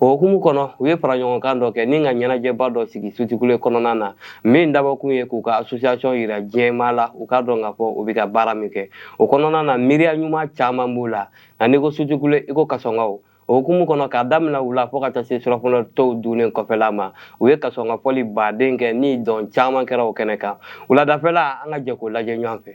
o hukumu kɔnɔ u ye fara ɲɔgɔnkan dɔ kɛ ni ka ɲɛnajɛba dɔ sigi sutikule kɔnɔna na min dabɔkun ye k'u ka association yira diɲɛmaa la u k'a dɔn k'a fɔ u bɛ ka baara min kɛ o kɔnɔna na miiriya ɲuman caman b'u la nka n'i ko sutikule i ko kasɔnkaw o hukumu kɔnɔ k'a daminɛ wula fo ka taa se surafana to dunnen kɔfɛla ma u ye kasɔnka fɔli baden kɛ ni dɔn caman kɛra o kɛnɛ kan wuladafɛla an ka jɛ k'o lajɛ ɲɔgɔn fɛ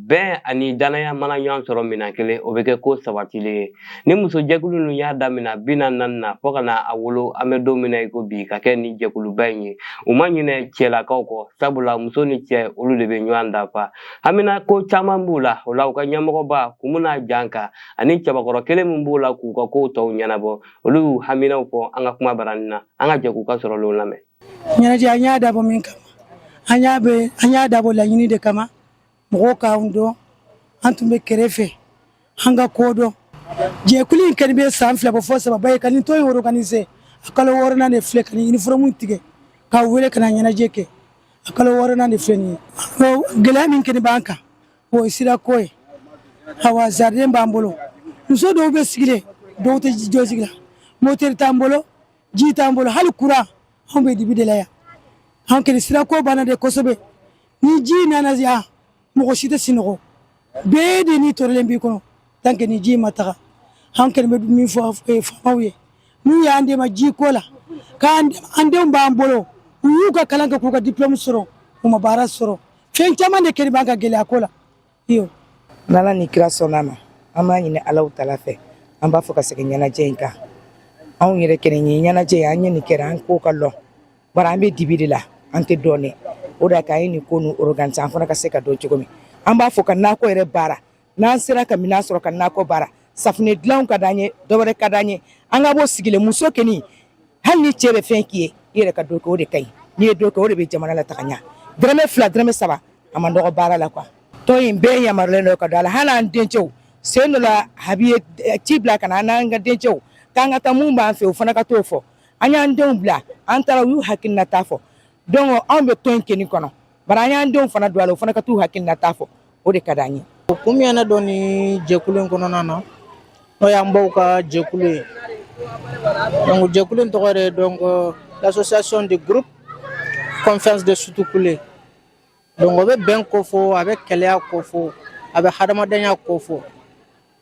bɛn ani danaya mana ɲɔgɔn sɔrɔ minɛn kelen o bɛ kɛ ko sabatilen ye ni musojɛkulu ninnu y'a daminɛ bi na naani na fo ka na a wolo an bɛ don min na i ko bi ka kɛ ni jɛkuluba in ye u ma ɲinɛ cɛlakaw kɔ sabula muso ni cɛ olu de bɛ ɲɔgɔn dafa haminako caman b'u la o la u ka ɲɛmɔgɔba kun bɛna jan kan ani cɛbakɔrɔ kelen min b'o la k'u ka kow tɔw ɲɛnabɔ olu y'u haminaw fɔ an ka kumabarani na an ka jɛ k'u ka sɔrɔlenw lamɛn ɲɛnajɛ an y'a dabɔ min kama an y'a bɛ an y'a dabɔ laɲini de kama mɔgɔw k'an dɔn an tun bɛ kɛrɛfɛ an ka ko dɔn jɛkulu in kɛlen bɛ san fila bɔ fo saba ye ka nin to ye woro kanin se a kalo wɔɔrɔnan de filɛ ka nin uniforme tigɛ k'a wele ka ɲɛnajɛ kɛ a kalo wɔɔrɔnan de filɛ nin ye gɛlɛya min kɔni b'an kan o ye sira ko ye awa zariden b'an bolo muso dɔw bɛ sigilen dɔw tɛ jɔ sigi la motɛri t'an bolo ji t'an bolo hali kuran anw bɛ dibi de la yan anw kɛlɛ sira ko banna de kosɛbɛ ni ji nana yan mɔgɔ si tɛ sinɔgɔ bɛɛ de ni tɔɔrɔlen b'i kɔnɔ tant que ni ji ma taga an kɛlen bɛ min fɔ faamaw ye n'u y'an dɛmɛ ji ko la k'an an denw b'an bolo u y'u ka kalan kɛ k'u ka diplôme sɔrɔ u ma baara sɔrɔ fɛn caman de kɛlen b'an ka gɛlɛya ko la Iyo. N'Ala ni kira sɔnna a ma an b'a ɲini Alahu taala fɛ an b'a fɔ ka segin ɲɛnajɛ in kan anw yɛrɛ kelen ye ɲɛnajɛ ye an ye nin kɛra an ko ka lɔn bari an bɛ dibi de la an tɛ dɔn o de k'a ye nin ko nu organiser an fana ka se ka dɔn cogo min an b'a fɛ ka nakɔ yɛrɛ baara n'an sera ka minɛn sɔrɔ ka nakɔ baara safunɛ dilanw ka d'an ye dɔwɛrɛ ka d'an ye an ka bɔ sigi la muso kɔni hali ni cɛ bɛ fɛn k'i ye i yɛrɛ ka dɔ kɛ o de ka ɲi n'i ye dɔ kɛ o de bɛ jamana la taga ɲɛ dɔrɔmɛ fila dɔrɔmɛ saba a man dɔgɔ baara la quoi tɔn in bɛɛ yamaruyalen don ka don a la hali an dencɛw sen dɔ la a bɛ ci bila ka na an n'an ka dencɛw k'an ka taa minnu b'an fɛ o fana ka t'o fɔ an y'an denw bila an taara u y'u hakilinata fɔ donc anw bɛ tɔn in kɔni kɔnɔ bari an y'an denw fana don a la o fana ka t'u hakilinata fɔ o de ka d'an ye. o kun min ye ne don nin jɛkulu in kɔnɔna na n'o y'an baw ka jɛkulu ye donc jɛkulu in tɔgɔ de ye donc l'association de groupe confiance de sutukule Donc o bɛ bɛn kofɔ a bɛ kelenya kofɔ a bɛ hadamadenya kofɔ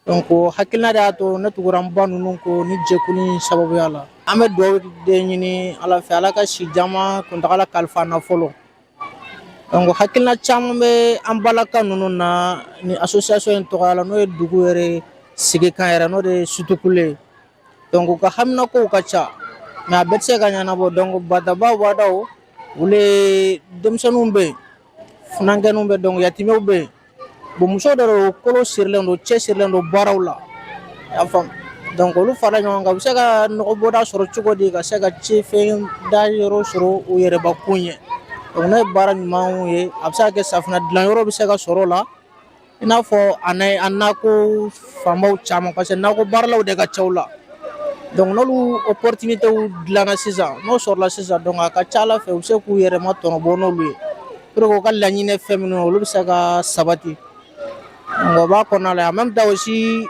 donc o hakilina de y'a to ne tugura n ba ninnu kɔ ni jɛkulu in sababuya la an bɛ dugawu de ɲini Ala fɛ Ala ka si jama kuntagala kalifa an na fɔlɔ donc hakilina caman bɛ an balaka ninnu na ni association in tɔgɔya la n'o ye dugu yɛrɛ sigikan yɛrɛ n'o de ye Sutukule ye donc u ka haminakow ka ca mais a bɛɛ tɛ se ka ɲɛnabɔ donc bataba wadaw olu ye denmisɛnninw bɛ yen funankɛninw bɛ donc yatimɛw bɛ yen bon muso dɔ don kolo sirilen don cɛ sirilen don baaraw la i y'a faamu donc olu fara ɲɔgɔn kan u bɛ se ka nɔgɔbɔda sɔrɔ cogo di ka se ka ci fɛn da yɔrɔ sɔrɔ u yɛrɛbakun ye donc n'o ye baara ɲumanw ye a bɛ se ka kɛ safinɛ dilanyɔrɔ bɛ se ka sɔrɔ o la i n'a fɔ a an nakɔ fanbaw caman parce que nakɔbaaralaw de ka ca u la donc opportunitéw dilanna sisan n'o sɔrɔla sisan donc a ka ca a la fɛ u bɛ se k'u yɛrɛ ma tɔnɔ bɔ n'olu ye u ka laɲini fɛn minnu olu bɛ se ka sabati nka b'a kɔnɔ la a ma bɛ taa si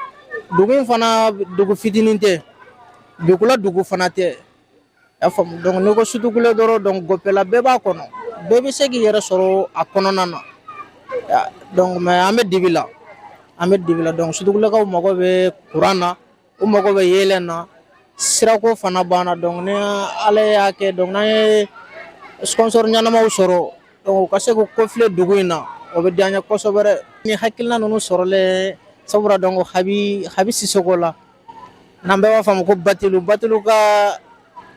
dugu fana dugu fitinin tɛ buguda dugu fana tɛ y'a faamu donc n'i ko sutukule dɔrɔn donc Gopela bɛɛ b'a kɔnɔ bɛɛ bɛ se k'i yɛrɛ sɔrɔ a kɔnɔna na Ya, donc mais an bɛ dibi la an bɛ dibi la donc sutukulekaw mago bɛ kuran na u mago bɛ yeelen na sirako fana banna donc ni ala y'a kɛ donc n'an ye sponsor ɲɛnamaw sɔrɔ donc u ka se k'u kɔfilɛ dugu in na o bɛ diya n ye kosɛbɛ dɛ ni hakilina ninnu sɔrɔlen sabula donc habi habi sisoko la n'an bɛɛ b'a fɔ a ma ko Batilu Batilu ka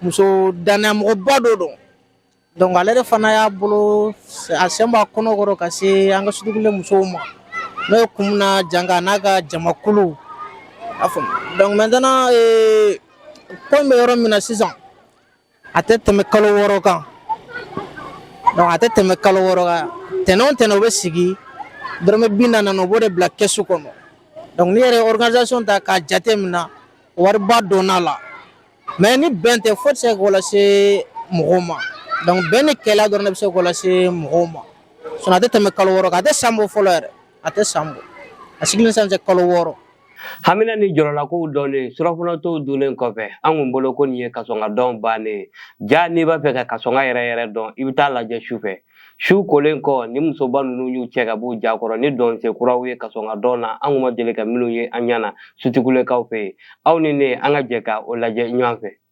muso danayamɔgɔba dɔ don donc ale de fana y'a bolo a sen b'a kɔnɔ kɔrɔ ka se an ka sutukule musow ma n'o ye Kumuna Janga n'a ka jamakulu y'a faamu donc maintenant ee ko in bɛ yɔrɔ min na sisan a tɛ tɛmɛ kalo wɔɔrɔ kan donc a tɛ tɛmɛ kalo wɔɔrɔ kan tɛnɛn o tɛnɛn u bɛ sigi dɔrɔmɛ bi naani naani u b'o de bila kɛsu kɔnɔ donc n'i yɛrɛ ye organisation ta k'a jate minɛ wariba donna la mais ni bɛn tɛ foyi tɛ se k'o lase mɔgɔw ma donc bɛn ni kelenya dɔrɔn de bɛ se k'o lase mɔgɔw ma sinon a tɛ tɛmɛ kalo wɔɔrɔ kan a tɛ san bɔ fɔlɔ yɛrɛ a tɛ san bɔ a sigili ni sisan cɛ kalo wɔɔrɔ hamina ni jɔrɔlakow dɔnnen surɔfana tow dunnen kɔfɛ an kun bolo ko nin ye kasɔnga dɔn bannen ye jaa n'i b'a fɛ ka kasɔnga yɛrɛ yɛrɛ dɔn i bɛ taa a lajɛ su fɛ su kolen kɔ ni musoba ninnu y'u cɛ ka b'u ja kɔrɔ ni dɔnsen kuraw ye kasɔnga dɔn na an kun ma deli ka minnu ye an ɲɛ na sutikulekaw fɛ yen aw ni ne an ka jɛ ka o lajɛ ɲɔgɔn fɛ